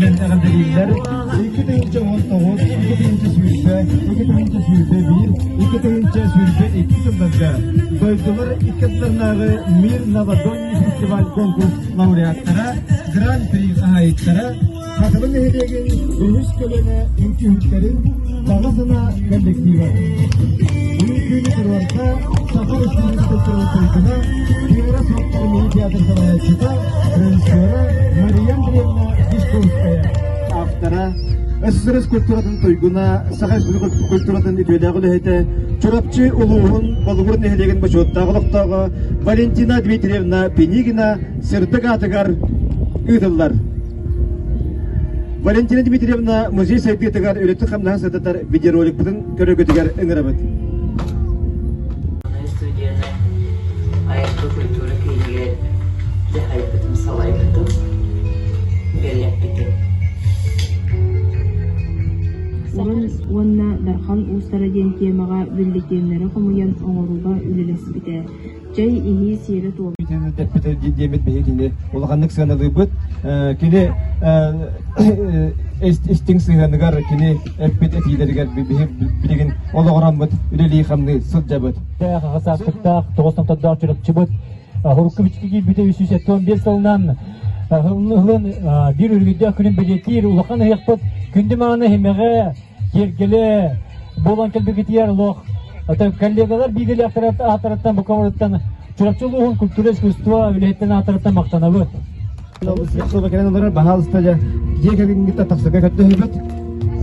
мэндэҕэдэлииллэр iki тыһыынча он тоҕус iki тыһыынча сүүрбэ iki тыһыынча сүүрбэ биир iki тыһыынча сүүрбэ икки сылларга дойдулар иккаларынааҕы мир новодонний фестиваль конкурс лауреаттара гран-при хаһаайыттара Хатылы нэһилиэгин үһүс көлөнө үҥкүһүттэрин Баҕа санаа коллектива Бүгүн туруорса Саха Республикатының туйгуна Кира Соттармыы театр салайааччыта режиссера Мария Андреевна Дешковская автора СССР культуратын туйгуна Саха Республикатын культуратын үтүөлээх үлэһитэ Чурапчы улууһун Балугур нэһилиэгин бочуоттаах олохтооҕо Валентина Дмитриевна Пенигина сырдык аатыгар ыытыллар. Валентина Дмитриевна музей сайдыытыгар үлэтин-хамнаһын сырдатар видеороликпытын көрөргүтүгэр ыҥырабыт. студияны айылгы культура киинигэр дьаһайбытым, салайбытым, үлэлэппитим. Саха уонна Дархан уустара диэн тиэмэҕэ бюллетеннэри хомуйан оҥорууга үлэлэспитэ. чэй иһии сиэрэ-туома Кини тэппитэ диэбит биһигини улаханнык сыаналыыбыт. Кини истиҥ сыһыаныгар кини эппит этиилэригэр биһи билигин олоҕураммыт үлэлии-хамныы сылдьабыт. Хасаастыктаах, тоҕус номтордоох чурапчыбыт Хорукковичка киирбитэ 175 сылынан Ыһылын биир үргүйдээх күнүн бэлиэтиир улахан ыһыахпыт күндү мааны иһимэҕэ киэргэлэ буолан кэлбикитигэр олох коллегалар бииргэлээхтэрэ аатыраттан букаларыттан Чурапчы улууһун культура искусство үлэһиттэн аатыраттан махтанабыт. Искусство кэлэн олорор баһаалыста дьа дьиэ кэргэнгитэ тапсырга көрдөһөбүт.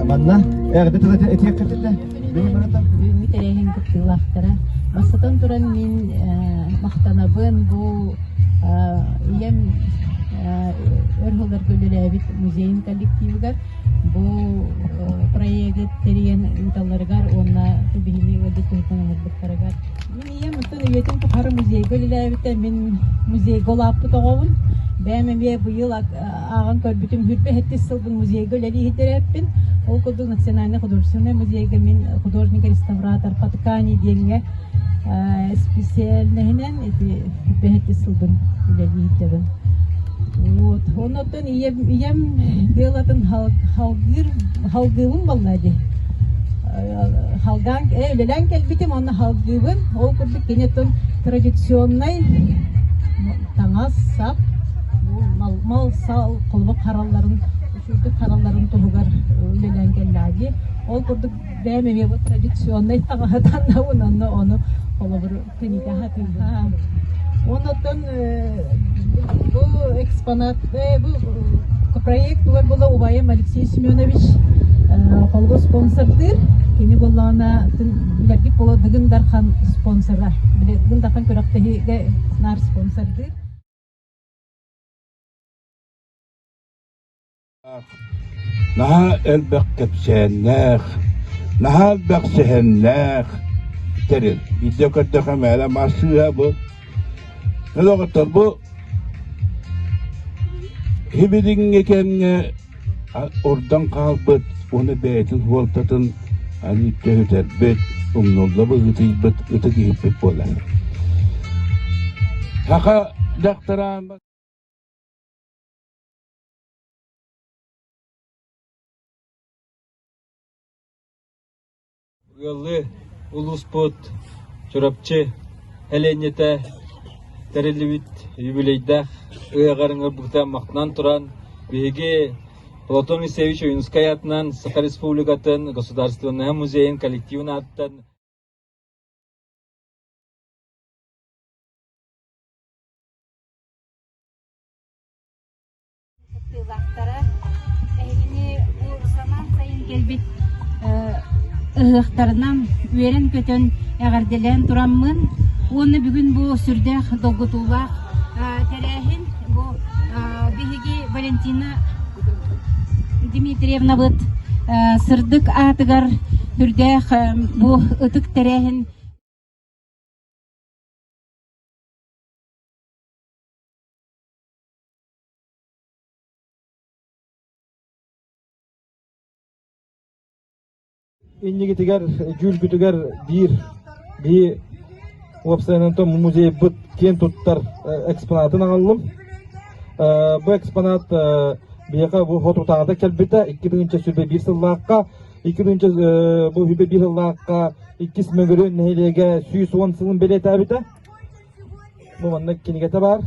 Манна эҕэрдэ тыла этиэх кэрдэтэ. Бүгүн тэрээһин кыттыылаахтара. Бастатан туран мин махтанабын бу ийэм өр жылдарга үлэлээбит музейин коллективыгар бу проегы тэрийэн ыыталларыгар уонна биһини ыалдьыт туһуттан оҥорбуттарыгар мин ийэм оттон үйэтин тухары музейга үлэлээбитэ мин музейга улааппыт оҕобун бэйэм эмиэ быйыл ааҕан көрбүтүм хүрбэһэттис сылбын музейга үлэлиһитирэппин ол курдук национальный художественный музейга мин художник реставратор Паткани диэҥҥэ специальноһынан ити хүрбэһэттис сылбын үлэлиһитэбин вот онно ийэм ийэм дьыалатын халгыыр халгыыбын буолла дии халгаан үлэлээн кэлбитим онно халгыыбын ол курдук киниттэн традиционнай таҥас сап мал сал холбок харалларын үрдүк харалларын туһугар үлэлээн кэллээ дии ол курдук бэйэм эмиэ бу традиционнай таҥаһы таннабын онно ону холобур тэнитэ сатыылаан оннуттан бу экспонат бу проектылар була убайым Алексей Семенович холго спонсордыыр кини буллаана билэргит боло дыгын дархан спонсора дыгын дархан күрөктөһүгэ нар спонсордыыр Наһаа элбэх кэпсээннээх, наһаа элбэх сэһэннээх тэрил. Биирдэ көрдөхө мээнэ массыына бу. Олоҕуттан бу хибилиҥҥи кэмҥэ ордон хаалбыт уонна бэйэтин суолтатын аны көһүтэрбит, умнулла быһыытыйбыт ытык иһиппит буолар. Саха дьахтараан Ыаллыы улууспут Чурапчы сэлиэнньэтэ тэриллибит юбилейдаах ыһыаҕар ыҥырбыта махтанан туран, биһиги Платон Исаевич Ойунускай аатынан Саха Республикатын Государственнай музейын коллективын ааттан Кыттыылаахтара эһигини бу самаан сайын кэлбит ыһыахтарынан үөрэн-көтөн эҕэрдэлээн тураммын уонна бүгүн бу сүрдээх долгутуулаах тэрээһин бу биһиги Валентина Дмитриевнабыт сырдык аатыгар сүрдээх бу ытык тэрээһин иннигитигэр дьүүлгүтүгэр биир биһи уопсайынан музейбыт киэн туттар экспонатын аҕаллым бу экспонат биһиэхэ бу хот утаата кэлбитэ икки тыһыынча сүбэ биир сыллаахха икки тыһыынча бу сүбэ биир сыллаахха иккис мөгүрү нэһилиэгэ сүүс уон сылын бэлиэтээбитэ Бу маннык кинигэтэ баар.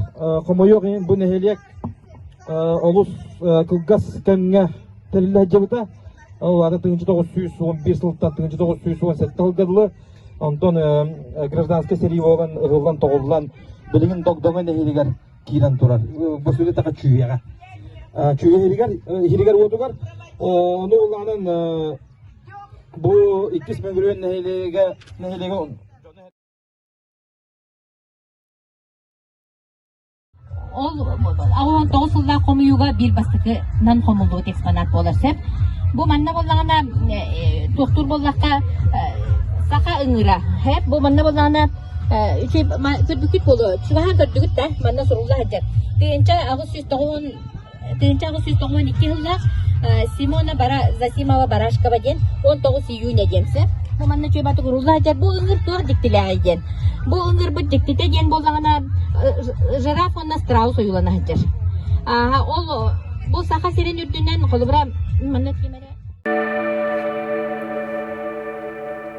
Хомойуох иһин бу нэһилиэк олус кылгас кэмҥэ тэриллэһдьибита. Ол аата тыһыынча тоҕус сүүс уон биир сылтан тыһыынча тоҕус сүүс уон сэттэ сылга дылы. Онтон гражданскай сэрии буолан ыһыллан тоҕуллан билигин Догдоҥо нэһилигэр киирэн турар. Бу сүрү таха чүүйэҕэ. Чүүйэ иһигэр-уотугар ону улаанан бу иккис Мөҥүрүөн нэһилиэгэ нэһилиэгэ Ол он тоҕус сыллаах хомуйууга биир бастакынан хомуллубут экспонат буолар сөп. Бу манна буоллаҕына туохтуур буоллахха саха ыҥыра. Хэп бу манна буоллаҕына сырдыкит буолуо. Чугаһан көрдүгүт да манна сурулла сылдьар. Тыынча аҕыс сүүс тоҕус Тыһыынча аҕыс сүүс тоҕуон икки сыллаах Симона бара Зосимова Барашкова диэн он тоҕус июня диэн сөп. Манна чөбөтүк урулла сылдьар бу ыҥыр туох диктилээҕий диэн. Бу ыҥырбыт диктитэ диэн буоллаҕына жираф уонна страус ойуулана сылдьар. Ааһа ол бу Саха сирин үрдүнэн холобура манна ким эрэ